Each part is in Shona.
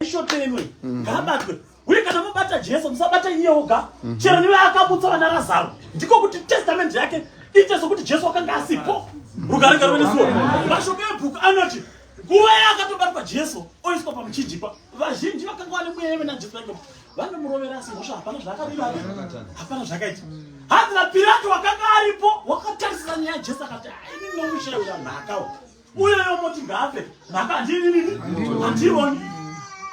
ishotenwe mhm. ngaabatwe uye kana mabata jesu musabata iye oga mhm. chero niwe akamutsa vana razaro ndiko kuti testament yake iite sokuti jesu wakanga asipo rugarega ruve nesuo mashoko ebhuku anoti nguva yaakatobatwa jesu oiswa pamuchinjikwa vazhinji vakanga vane mweya yeve najesu vaiko vanomurovera asi mhosva hapana zvaakaiva hapana zvakaita hanzi napilato wakanga aripo wakatarisira nyaya jesu akati aini nomushaira nhakawo uyo yomoti ngaafe mhaka handinini handioni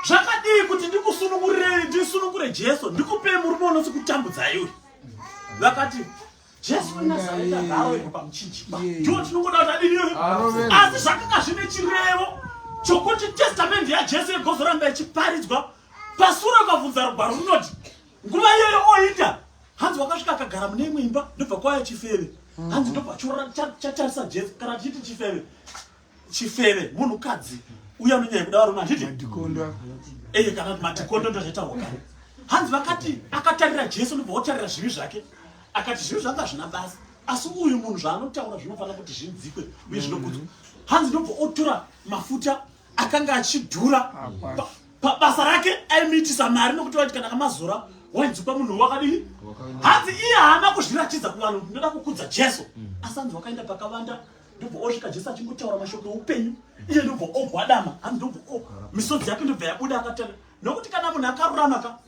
zvakadii kuti ndikusunungurire ndisunungure jesu ndikupei murume unosi kutambudzai uyu vakati jesu wenazaeta ngaawe pamuchinjikwa ndiwo tinongoda kuti adini uyu asi zvakanga zvine chirevo chokuti testamendi yajesu yegozoramba ichiparidzwa pasuro kavhunza rugwaro runoti nguva iyoyo oita hanzi wakasvika akagara mune imwe imba ndobva kwaya chifeve mm-hmm. hanzi ndobva chatarisa jesu kana tichiti chifeve chifeve munhukadzi uya unonyaya kuda varume handiti eye kana matikondo ndozvaitawo kare hanzi vakati akatarira jesu ndobva otarira zvivi zvake akati zvivi zvanga zvina basa asi uyu munhu zvaanotaura zvinofanira kuti zvinzikwe uye zvinokudzwa mm-hmm. hanzi ndobva otora mafuta akanga achidhura ah, pabasa rake aimiitisa mari nokuti vaiti kana kamazora wainzikwa munhu wakadii hanzi iye haana kuzviratidza kuvanhu kuti ndoda kukudza jesu mm. asi anzi wakaenda pakavanda ndobva osvika jesu achingotaura mashoko eupenyu iye ndobva ogwadama hanzi ndobva misodzi yake ndobva yabuda akatana nokuti kana munhu akarurama ka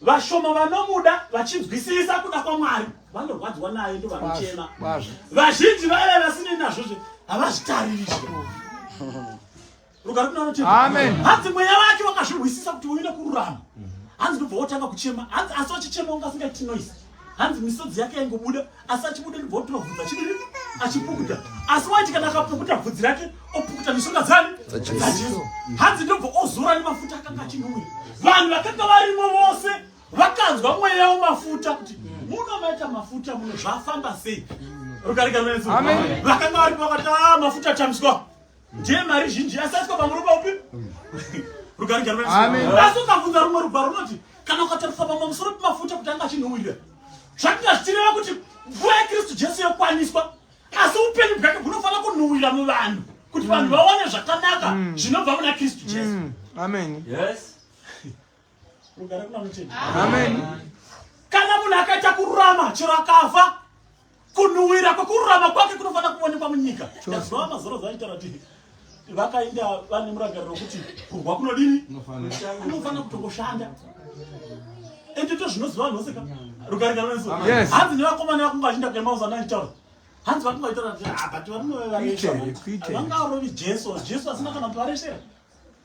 vashoma vanomuda vachinzwisisa kuda kwamwari vanorwadziwa naye ndo vanochema vazhinji vaya vasinei nazvo zve havazvitariri rugare kunanoti hanzi mweya wake wakazvirwisisa kuti uine kururama hanzi ndobva wotanga kuchema hanzi asi wachichema ungasingaiti noise hanzi misodzi yake yaingobuda asi achibuda ndibvotora bvudzi achidii achipukuta asi waiti kana akapukuta bvudzi rake opukuta mishonga dzani dzajesu hanzi ndobva ozora nemafuta akanga achinhuwira vanhu vakanga varimo vose vakanzwa mweya wemafuta kuti muno maita mafuta muno zvafamba sei rukarika rwenzi vakanga varimo vakati a ah, mafuta atambiswa ndiye mari zhinji yasaiswa pamwe ruba upi rugari asi ukabvunza rumwe ruba runoti kana ukatarisa pamwe musoro pemafuta kuti anga achinhuwirira zvatinga zvichireva kuti mvura yekristu jesu yokwaniswa asi upenyu bwake bunofanira kunhuwira muvanhu kuti vanhu mm. vaone zvakanaka mm. zvinobva muna kristu jesu mm. amen yes rugare kuna mucheni amen kana munhu akaita kururama chero akafa Kunhuwira kwekururama kwake kunofanira kuonekwa munyika. Ndazova mazoro zvaitaura kuti vakainda vane murangariro wekuti kurwa kunodini kunofanira kutongoshanda endito zvinoziva vanhu vose ka rukaringano nesu hanzi nevakomana vakunga vachiinda kuemauzano aitaura hanzi vakunga vaitaura kuti ah, but varume vevaresha vangarovi jesu jesu asina kana kuti varesera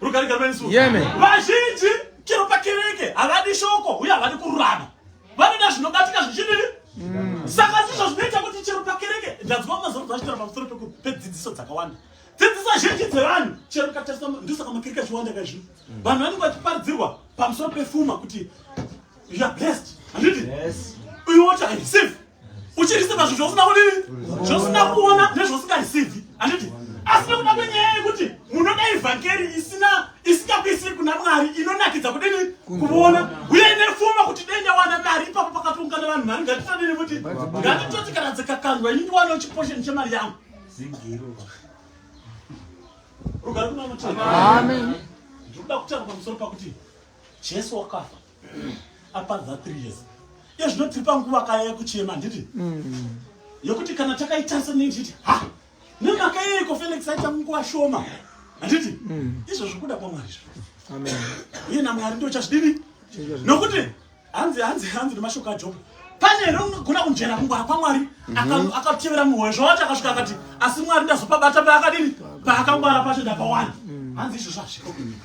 Rugare garwe nesu. Yeme. Vazhinji chero pakereke havadi shoko uye havadi kururama. Vanoda zvinobatika zvichidini? Mm. Saka ndizvo zvinoita kuti chero pakereke ndanzwa mazano zvachitaura pamusoro pedzidziso dzakawanda. Dzidziso zhinji dzevanhu chero ukatarisa ndosaka makereke achiwanda kaizvi. Mm. Vanhu vanenge vachiparidzirwa pamusoro pefuma kuti you are blessed. Handiti? Yes. Uyu wacho I receive. uchiriseva zvinhu zvausina kudii zvausina kuona nezvausingarisivi handiti asi nekuda kwenyaya yekuti munoda evhangeri isina isingakuisiri kuna mwari inonakidza kudini kuona uye ine fuma kuti dai ndawana mari ipapo pakatoungana vanhu mari ngatitodini kuti ngatitoti kana dzikakandwa ini ndiwanawo chiposheni chemari yangu rugari kuna mutoda kutaura pamusoro pakuti jesu wakafa apadza 3 years iye zvino tiri panguva kaya yekuchema handiti mm. yekuti kana takaitarisa nei tichiti ha nemhaka yeiko felix aita munguva shoma handiti mm. izvo zvikuda kwamwari izvo iye namwari ndo chazvidini nokuti hanzi hanzi hanzi nemashoko ajoba pane here unogona kunjera kungwara kwamwari mhm. akatevera muhoyo zvawati akasvika akati asi mwari ndazopabata paakadini paakangwara pacho ndapawani mm. hanzi izvo zvazviko kunyika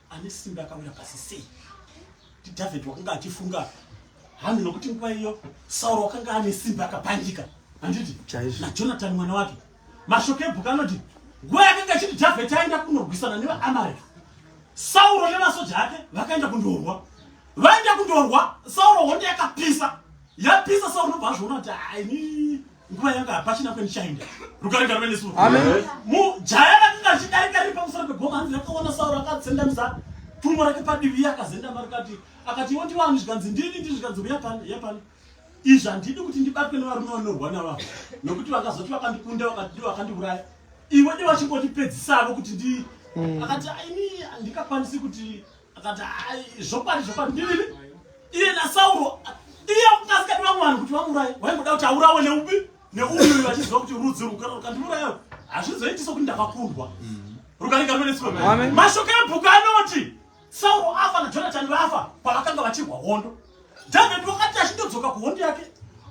ane simba akawira pasi sei ndidhavhidhi wakanga achifunga hanhu nokuti nguva iyo sauro wakanga ane simba akapandika handiti najonatani mwana wake mashoko ebhuku anoti nguva yakanga chiti dhavheti aenda kunorwisana nevaamareki sauro nevasoja ake vakaenda kundorwa vaenda kundorwa sauro hondo yakapisa yapisa sauro nobva azviona kuti aini nguva yanga hapachina kwenichaenda rugare ngaruve nesu mujaya rakanga richidarika riri pamusoro pegoma hanzi rakaona sauro akatsendamisa tumbo rake padivi iye akazendama rikati akati iwo ndiwani zvikanzi ndini ndi zvikanzi uya pani ya pani izvi handidi kuti ndibatwe nevarume vanorwa nava nokuti vakazoti vakandikunda vakati vakandiuraya ivo ndi vachingondipedzisavo kuti ndi mm. akati ini handikakwanisi kuti akati zvokwadi zvokwadi ndinini iye nasauro iye akukasikati vamwe vanhu kuti vamuuraye waingoda kuti aurawe neupi neuyu vachiziva kuti rudzi rukara rukandiurayayo hazvizoitiso kuti ndakakundwa mm. rukaringaruvenesikwa mashoko ebhuku anoti sauro afa najonatani vafa pavakanga vachirwa hondo dhavhedi wakati achindodzoka kuhondo yake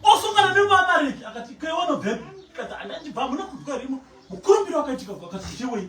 osungana nemuamareki akati keiwanobvepi kati andandibva hamuna kudwa rimo mukurumbiro wakaitika wakati chewei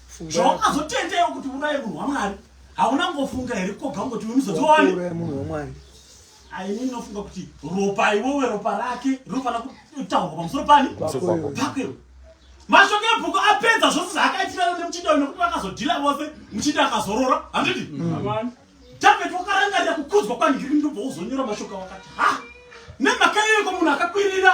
zvawakazotendea kuti uraye munhu wamwari hauna ngofunga here koga ngoti wemuzodzoani munhu wamwari aini ndinofunga kuti ropa iwewe ropa rake rinofanira kutaurwa pamusoro pani pakwewe mashoko ebhuku apedza zvose zvaakaitirana nemuchinda uyu nekuti vakazodhila vose muchinda akazorora handidi mm. david wakarangarira kukudzwa kwandiri ndobva uzonyora mashoko wakati ha nemhaka iyoiko munhu akakwirira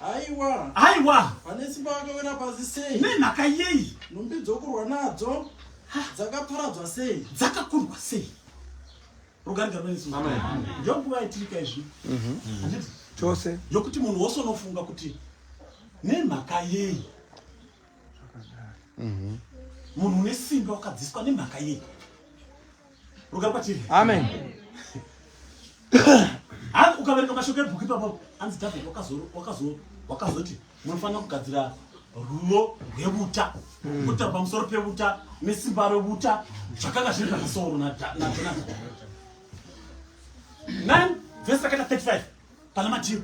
Haiwa. Haiwa. Pane simba vakawira pasi sei? Nemhaka yei? Nhumbi dzokurwa nadzo dzakaparadzwa sei? Dzakakurwa sei? Rugarigaro rwesu. Amen. Ndokuva itirika izvi. Mhm. mhm. Chose. Yokuti munhu wose unofunga kuti nemhaka yei? Mhm. Munhu une simba wakadziswa nemhaka yei? Ruka kwatiri. Amen. Hanzi ukaverenga mashoko ebhuku ipapo hanzi David wakazo wakazo wakazoti munofanira kugadzira rudo rwevuta kuta pamusoro pevuta nesimba revuta zvakanga zviri pamusoro najonathan 9 vhesi rakaita 35 Pana madhiri.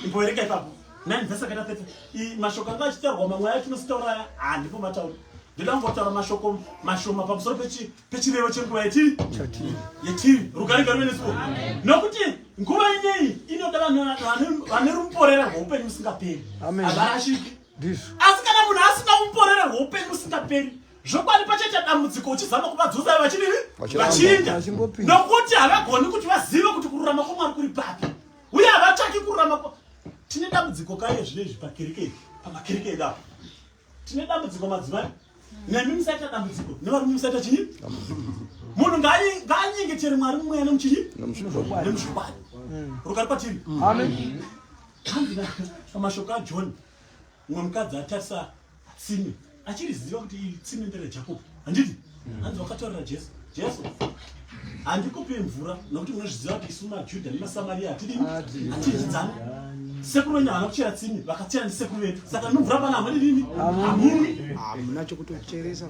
Imboereka ipapo. Nani vese kaita tete. I mashoko anga achitaurwa mamwe ayo tinostaura handipo matauri. Ndoda kungotaura mashoko mashoma pamusoro pechi pechirevo chenguva yetiri. Chatiri. Yetiri. Rugare garwe nesu. Amen. Nokuti nguva ineyi inoda vanhu vanhu vane ruporera rwoupenyu musingaperi. Amen. Avarashiki. Ndizvo. Asi kana munhu asina ruporera rwoupenyu musingaperi zvokwadi pachaita dambudziko uchizama kuvadzosa vachidii vachinda nokuti havagoni kuti vazive kuti kururama kwamwari kuri papi uye havatsvaki kururama tine dambudziko kaye zvino izvi pakereke ii pamakereke edu apo tine dambudziko madzimai nemi musaita dambudziko nevarume musaita chii munhu ngaanyengetere mwari mumweya nemuchii nemushokwadi rugari patiri amina pamashoko ajohn umwe mukadzi atarisa tsime achiriziva kuti iri tsime nderejakobo handiti mm. hanzi wakataurira jesu jesu handikupi mvura nokuti munozviziva kuti isu majudha nemasamaria hatidini hatidyidzani sekuru wenyu havana kuchera tsimi vakachera ndisekuru vedu saka nomvura pana hamadi nini hamumi hamuna chokutocheresa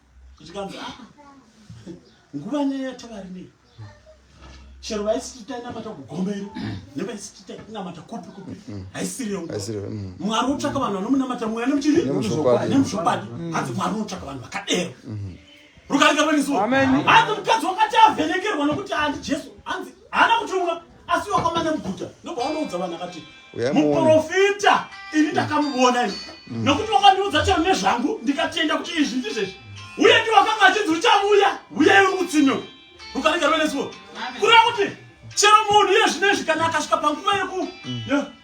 zvikanzi ah, nguva nyaya yatavari nei chero vaisiti tainamata kugomero nevaisiti tainamata kupi kupi haisiriyo mm. mwari wotsvaka vanhu vanomunamata mweya nemuchiri nemuzvokwadi mm. hanzi mwari unotsvaka vanhu vakadero mm-hmm. rukarika rweniso hanzi mukadzi wakati avhenekerwa nokuti andi jesu hanzi haana kutumwa asi wakamanya muguta ndobva wanoudza vanhu akati muprofita ini ndakamuvona ini mm. nokuti wakandiudza chero nezvangu ndikatenda kuti izvi ndizvezvi uye ndi wakanga achinzi uchavuya uye uri kutsinyo rukaregerwe nesuo kureva kuti chero munhu iye zvino izvi kana akasvika panguva yeku mm.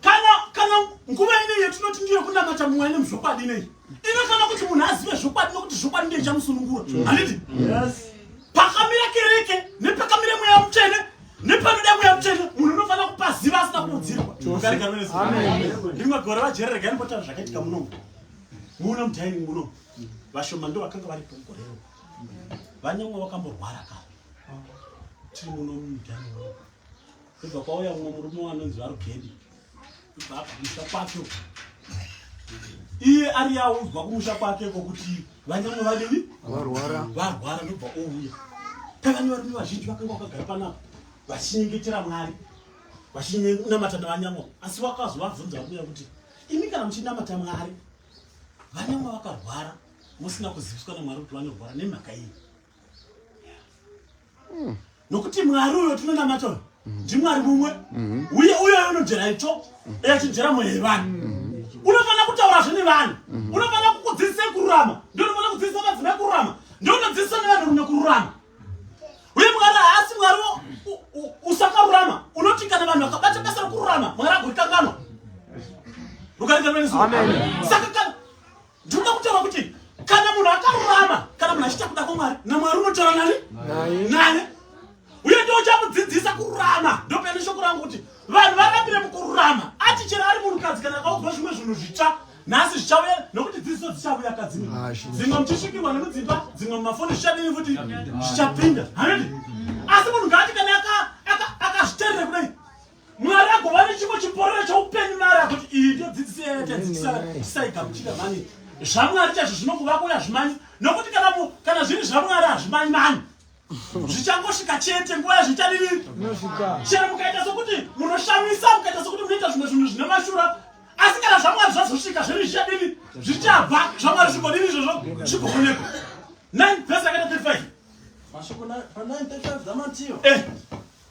kana kana nguva ineyi yatinoti ndiyo kunamata mwari nemuzvokwadi ineyi inofana kuti munhu azive zvokwadi nokuti zvokwadi ndiye chamusunungura handiti pakamira kereke nepakamira mweya mutsvene nepanoda mweya mutsvene munhu unofanira kupaziva asina kuudzirwa rimwe gore vajere regai ndipotara zvakaitika munomu muno mudining muno vashoma ndo vakanga varipo mugorero vanyamwe vakamborwara ka tiri muno mudining muno Kubva kwauya mumwe murume wanonzi varugedi kubva abvisa kwacho iye ari yaudzwa kumusha kwake kokuti vanyamwe vadini varwara varwara ndobva ouya tavani varume vazhinji vakanga vakagara panapa vachinyengetera mwari vachinamata navanyamwa asi vakazovabvunza vabuya kuti imi kana muchinamata mwari vanyamwa vakarwara musina kuziviswa namwari kuti vanorwara nemhaka iyi mm. nokuti mwari uyo tinonamata uyo mm. ndimwari mumwe mm. uye uyo unojera itsvo mm. achijera mweya yevanhu mm. unofanira kutaurazve nevanhu mm. unofanira kukudzidzisa kururama ndio unofanira kudzidzisa vadzina kururama ndio unodzidzisa nevanhurume kururama uye mwari haasi mwari usakarurama unoti kana vanhu vakabata basa rekururama mwari agorikanganwa rukaringanwa nesaka Ndinoda kutaura kuti kana munhu akarurama kana munhu achiita kuda kwamwari namwari unotaura nani naye uye ndo uchamudzidzisa kururama ndopene shoko rangu kuti vanhu varambire mukururama ati chero ari munhukadzi kana akaudzwa zvimwe zvinhu zvitsva nhasi zvichauya nokuti dzidziso dzichauya kadzimwe ah, dzimwe muchisvikirwa nemudzimba dzimwe mumafoni zvichadini futi zvichapinda hanodi asi munhu ngaati kana akazviterere kudai mwari agova nechimwe chiporera choupenyu mari akuti iyi ndiyo dzidziso yayatadzidzisaigamuchira mani zvamwari chazvo zvinokuvako yazvimanyi nokuti kana kana zviri zvamwari hazvimanyi mani zvichangosvika chete nguva yazvichadini chero mukaita sokuti munoshamisa mukaita sokuti munoita zvimwe zvinhu zvine mashura asi kana zvamwari zvazosvika zviri zvichadini zvichabva zvamwari zvigodini izvozvo zvigoonekwa 9 vese akaita 35 mashoko pa 9 35 dzamatiyo eh.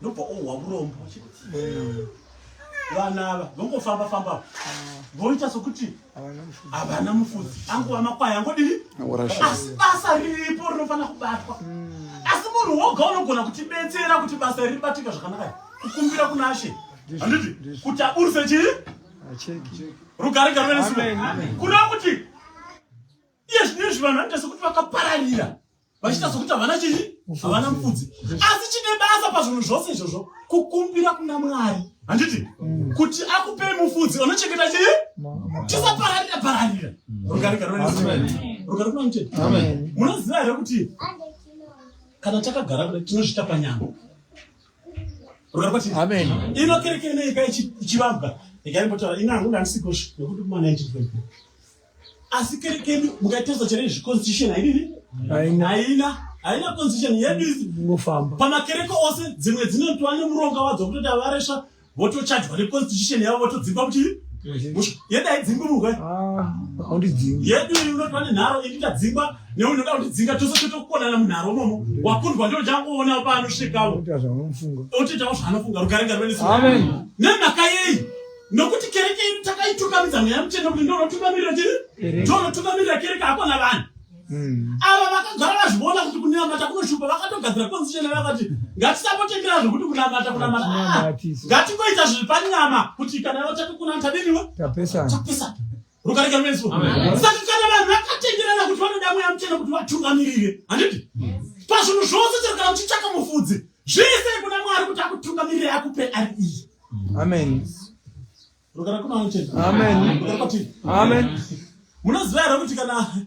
ndobva ohwa murombo vana ava vongofamba famba voita sokuti havana mufudzi angova makwai angodii asi basa riripo rinofanira kubatwa asi munhu woga unogona kutibetsera kuti basa iri ribatika zvakanaka kukumbira kuna ashe handiti kuti aburise chii rugare garwe nesuo kureva kuti iye zvinezvi vanhu vanoita sokuti vakapararira vachiita sokuti havana chii havana mufudzi asi chine basa pazvinhu zvose izvozvo kukumbira kuna mwari handiti mm. kuti akupei mufudzi unochengeta chii tisapararira pararira munoziva here kuti kana takagara kuda tinozvita panyama ino kereke inoika ichivambwa ikaimbotara ina hangu ndandisikozvi nekuti kuma 19 asi kere kedu mukatarisa chero izvi constitution haidini haina haina constitution yedu izi pamakereke ose dzimwe dzinotwa nemuronga wadzo kutoti avaresva votochajwa neconstitution yavo votodzimba kuti yedu haidzimbi murwe ah, yedu inotwa nenharo ini tadzimba neunoda kutidzinga tose totokukonana munharo momo wakundwa ndo changoona paanosvikavo otitawo zvaanofunga rukarenga rwenenhaka yei nokuti kereke iri takaitungamidza mweya mutsvene kuti ndonotungamirira chiri ndonotungamirira kereke hakona vanhu hmm. ava vakagara vazviona kuti kunamata kunoshupa vakatogadzira konzichena vakati ngatisapotengera zvekuti kunamata kunamata ah, ngatingoita zviri panyama kuti kana vachati kunamata neniwe tapesana rukarika rwesu saka kana vanhu vakatenderana kuti vanoda mweya muchena kuti vatungamirire handiti pazvinhu zvose chero kana uchitsvaka mufudzi zvese kuna mwari kuti akutungamirire akupe ari iyi amen rukarika rwesu amen amen munoziva here kuti kana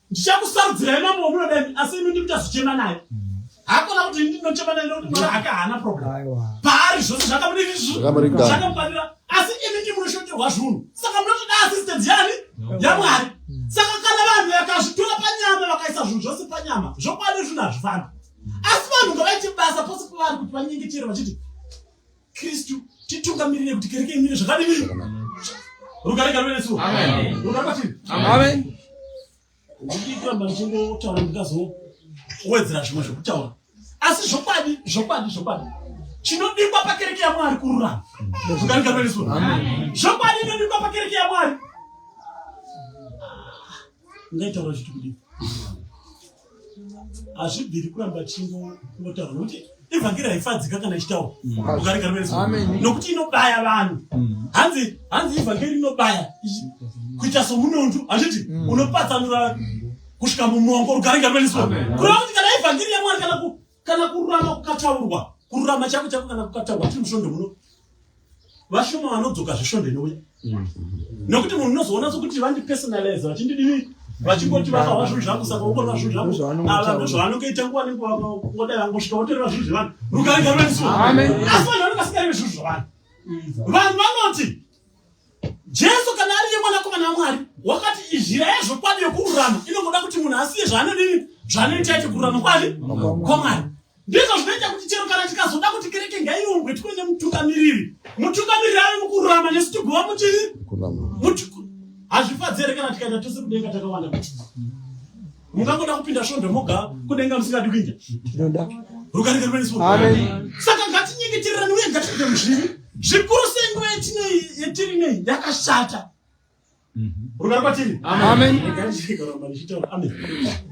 ndichakusarudzirai mambo wamunoda imi asi imi ndi muchazochema naye hakona kuti ndinochema naye nokuti mwana hake haana problem paari zvose zvakamudiizvakamufanira asi imi ndi munoshoterwa zvunhu saka munotoda assistance yani yamwari saka kana vanhu vakazvitora panyama vakaisa zvinhu zvose panyama zvokwadi zvinhu hazvifambi asi vanhu ngavaite basa pose pavari kuti vanyengechere vachiti Kristu titungamirire kuti kereke imire zvakadini rugare garwe nesu rugare kwatiri amen ndichiitamba ndichingotaura ndikazowedzera zvimwe zvekutaura asi zvokwadi zvokwadi zvokwadi chinodikwa pakereke yamwari kururama rugare garwe nesu zvokwadi inodikwa pakereke yamwari ngaitaura chiti kudii hazvibviri kuramba chingotaura nokuti evhangeri haifadzika kana ichitaura mm. nokuti inobaya vanhu mm. hanzi hanzi evhangeri inobaya kuita somunondu hazviti mm. unopatsanura kusvika mumongo rugare ngaruveniswa kureva kuti kana evhangeri yamwari kana kana kururama kukataurwa kururama chako chako kana kukataurwa tiri musvondo muno vashoma vanodzoka zvesvondo inouya mm. nokuti munhu unozoona sokuti vandipersonalize vachindidii vachingoti vakahwa zvinhu zvangu saka ukorwa zvinhu zvangu ava ndozvavanongoita nguva nenguva ngoda vangosvika votoreva zvinhu zvevanhu rukaigaro vaniso asi vanhu vanonga singareve zvinhu zvevanhu vanhu vanoti Jesu kana ari yemwanakomana waMwari wakati izhira yezvokwadi yokururama inongoda kuti munhu asiye zvaanodini zvaanoita ite kururama kwani kwaMwari. Ndizvo zvinoita kuti chero kana tikazoda kuti kereke ngaiumbwe tiwe nemutungamiriri, mutungamiriri ave mukururama nesu tiguva muchii hazvifadzere kana tikaita tose kudenga takawanda kuti mungangoda kupinda svondo moga kudenga musingadi kuinda rukarika rwene svondo saka ngatinyengetererani uye ngatipinde muzviri zvikuru senguva yatinei yatiri nei yakashata mhm. rugari kwatiri amen